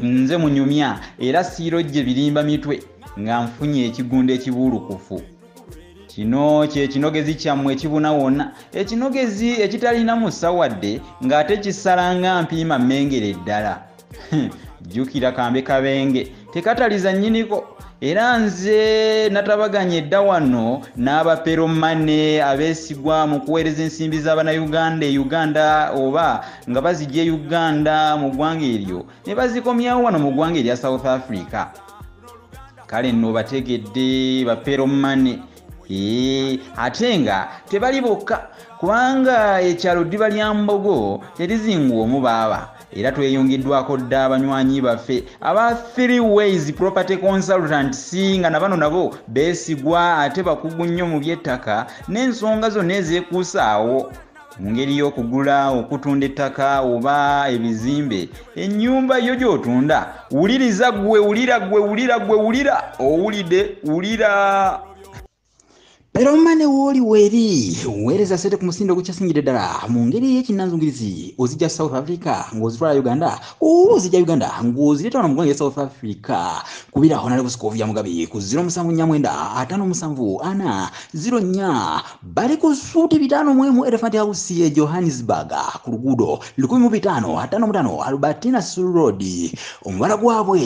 nze munyumya era siiro gye birimba mitwe nga nfunye ekigunda ekibuulukufu kino kyekinogezi kyammwe ekibuna wonna ekinogezi ekitalina musawadde ng'ate kisala nga mpiima mmengere ddala jjukira kambe kabenge tekataliza nyiniko era nze natabaganye edda wano n'abaperomane abeesigwa mu kuweereza ensimbi z'abanauganda e uganda oba nga bazijja e uganda mu ggwanga eryo ne bazikomyawo wano mu ggwanga erya south africa kale nno bategedde baperomane ee ate nga tebali bokka kubanga ekyalo ddiba lya mbogo terizinguwa omu baaba era tweyungiddwako dda abanywanyi baffe aba three ways property consultants nga na bano nabo beesigwa ate bakugu nnyo mu by'ettaka n'ensonga zonna ezeekuusaawo mu ngeri y'okugula okutunda ettaka oba ebizimbe ennyumba yo gy'otunda wuliriza gwe wulira gwe wulira gwe wulira owulidde wulira era omane wooli weeri weereza sente ku musindo ogukyasingira ddala mu ngeri ey'ekinnanzungirizi ozijja south africa ng'ozitwala uganda oba ozijja uganda ng'ozireeta wano mu ggwanga south africa kubira honale busikovya mugabi ku 074754 bali ku suuti bitaano mu emu elephant house e johannesburg ku luguudo 1555 albertina sulroad omubala gwabwe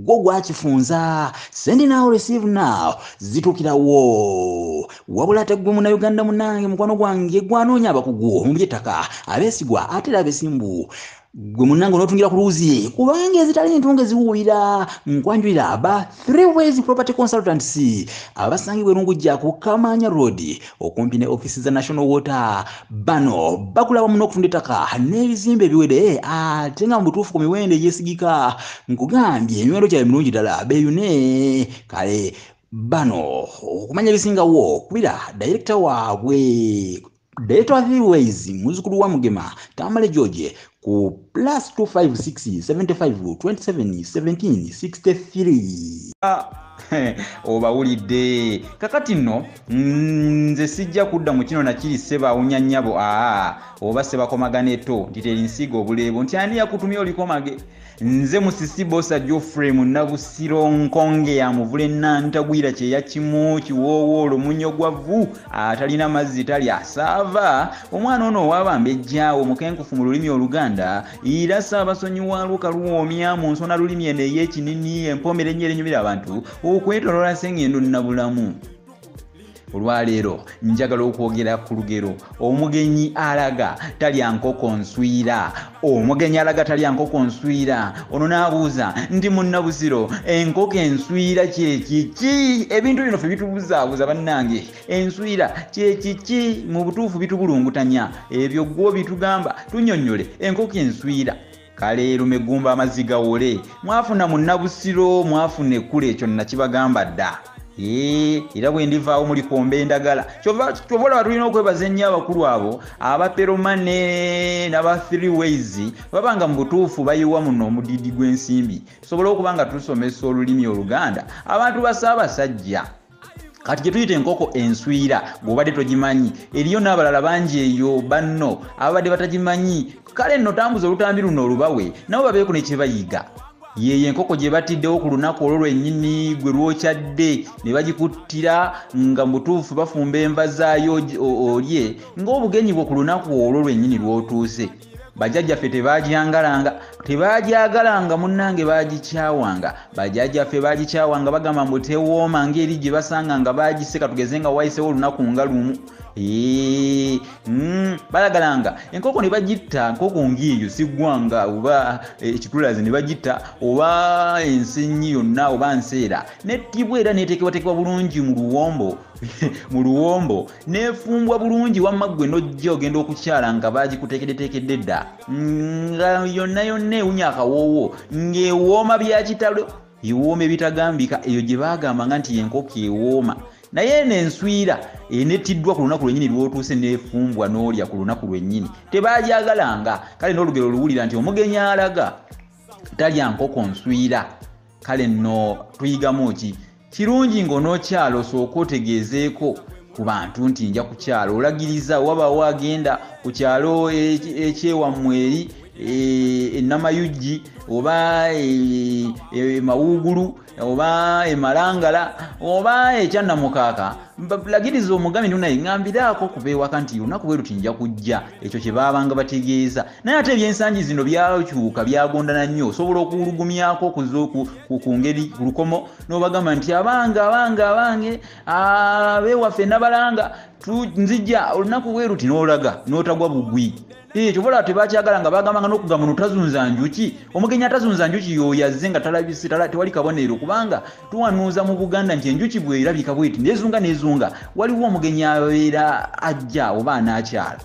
gwo gwakifunza send now receive now zitukira wo wabula ate gwe munauganda munange mukwano gwange gwanoonya abakugu mu byettaka abeesigwa ate era abesimbu gwe munange onotungira ku luuzi kubanga ezitali ntunge ziwuulira nkwanjulira ba three ways property consultants abasangibwa erungujja ku kamanya road okumpi ne office za national water bano bakulaba muno okutunda ettaka n'ebizimba ebiwede ate nga mu butuufu ku miwendo egyesigika nkugambye emiwendo gyabwe mirungi ddala beyune kale bano okumanya ebisingawo kubira dayirekita waabwe dayirekita wa thways muzukulu wa mugema tamale george ku plus 25675271763 obawulidde kakati nno nze sijja kudda mu kino nakiri sebawunya nnyabo aa oba sebakomagana eto nti teri nsiiga obuleebo nti ani yakutumye olikomage nze musisi bosa geoffrey munabusiro nkonge ya muvule nantagwira kyeya kimu kiwoowo olumunyo gwa vu atalina mazzi tali asaava omwana ono owabamba ejjaawo mukenkufu mu lulimi oluganda era saabasonyiwaalwo kaluwoomya mu nsona lulimi eno ey'ekinini empomera ennyo erenyumira abantu okwetoloola sengendo nabulamu olwaleero njagala okwogera ku lugero omugenyi alaga talya nkoko nswira omugenyi alaga talya nkoko nswira ono n'abuuza ndi munnabuziro enkoko enswira kyekiki ebintu bino fe bitubuzaabuza bannange enswira kyekiki mu butuufu bitubulungutanya ebyo gwo bitugamba tunyonnyole enkoko enswira kale lumegumba amazzi gawole mwafuna munnabusiro mwafuna ekkula ekyo nakibagamba dda era bwe ndivaawo muli kwomba endagala kyova olaba tulina okwebaza ennyo abakulu abo abaperomane naba three ways baba nga mu butuufu bayiwa muno omudidi gw'ensimbi tusobole okuba nga tusomesa olulimi oluganda abantu basaabasajja kati gyetuyita enkoko enswira gweobadde togimanyi eriyo n'abalala bangi eyo banno ababadde batagimanyi kale nno tambuza olutambi luno olubawe nabo babeeko nekyebayiga yeeyo enkoko gye batiddewo ku lunaku olwo lwennyini gwe lwokyadde ne bagikuttira nga mubutuufu bafumba enva zaayo olye ng'obugenyi bwo ku lunaku olwo lwennyini lwotuuse bajajjaffe tebagyangalanga tebagyagalanga munnange bagikyawanga bajajjaffe bagikyawanga bagamba mbu tewooma ngaeri gye basanga nga bagiseka tugeze nga wayisewo olunaku nga lumu mm, balagalanga enkoko ne bagitta nkoko ngaeyo sigwanga oba eh, ekitulazi ne bagitta oba ensenyi yonna oba nseera nettibwa era neteekebwateekebwa bulungi mu luwombo mu luwombo nefumbwa bulungi wamma ggwe nojja ogenda okukyala nga bagikuteekeddeteekedde dda nga yonna yonna ewunya akawoowo ng'ewooma byakitalo ewooma ebitagambika eyo gye baagamba nga nti yenkoko ewooma naye eno enswira enettiddwa ku lunaku lwennyini lwotuuse nefumbwa n'olya ku lunaku lwennyini tebagyagalanga kale n'olugero oluwulira nti omugenyi alaga talya nkoko nswira kale nno tuyigamu ki kirungi ng'onookyala osooka otegeezeeko ku bantu nti nja kukyala olagiriza wabaawo agenda ku kyalo ekyewammwe eri enamayuggi e, oba emawuugulu e, e, oba emalangala oba ekyannamukaaka lagiriza omugambye nti naye ŋambiraako kuba ewaka nti olunaku bwe luti nja kujja ekyo kye baabanga bategeeza naye ate ebyensangi zino byakyuka byagondana nnyo osobola okuwulugumyako okuza ku ngeri ku lukomo nobagamba nti abange abange abange abewaffe nabalanga nzija olunaku weruti nolaga notagwa bugwi kyobola tebakyagala nga bagambanga nokugamba notazunza njuki omugenyi atazunza njuki yoyazze nga talabise tewali kabonero kubanga tuwanuuza mu buganda nti enjuki bwerabika bweti nezunga nezunga waliwo omugenyi abeera ajja oba anakyala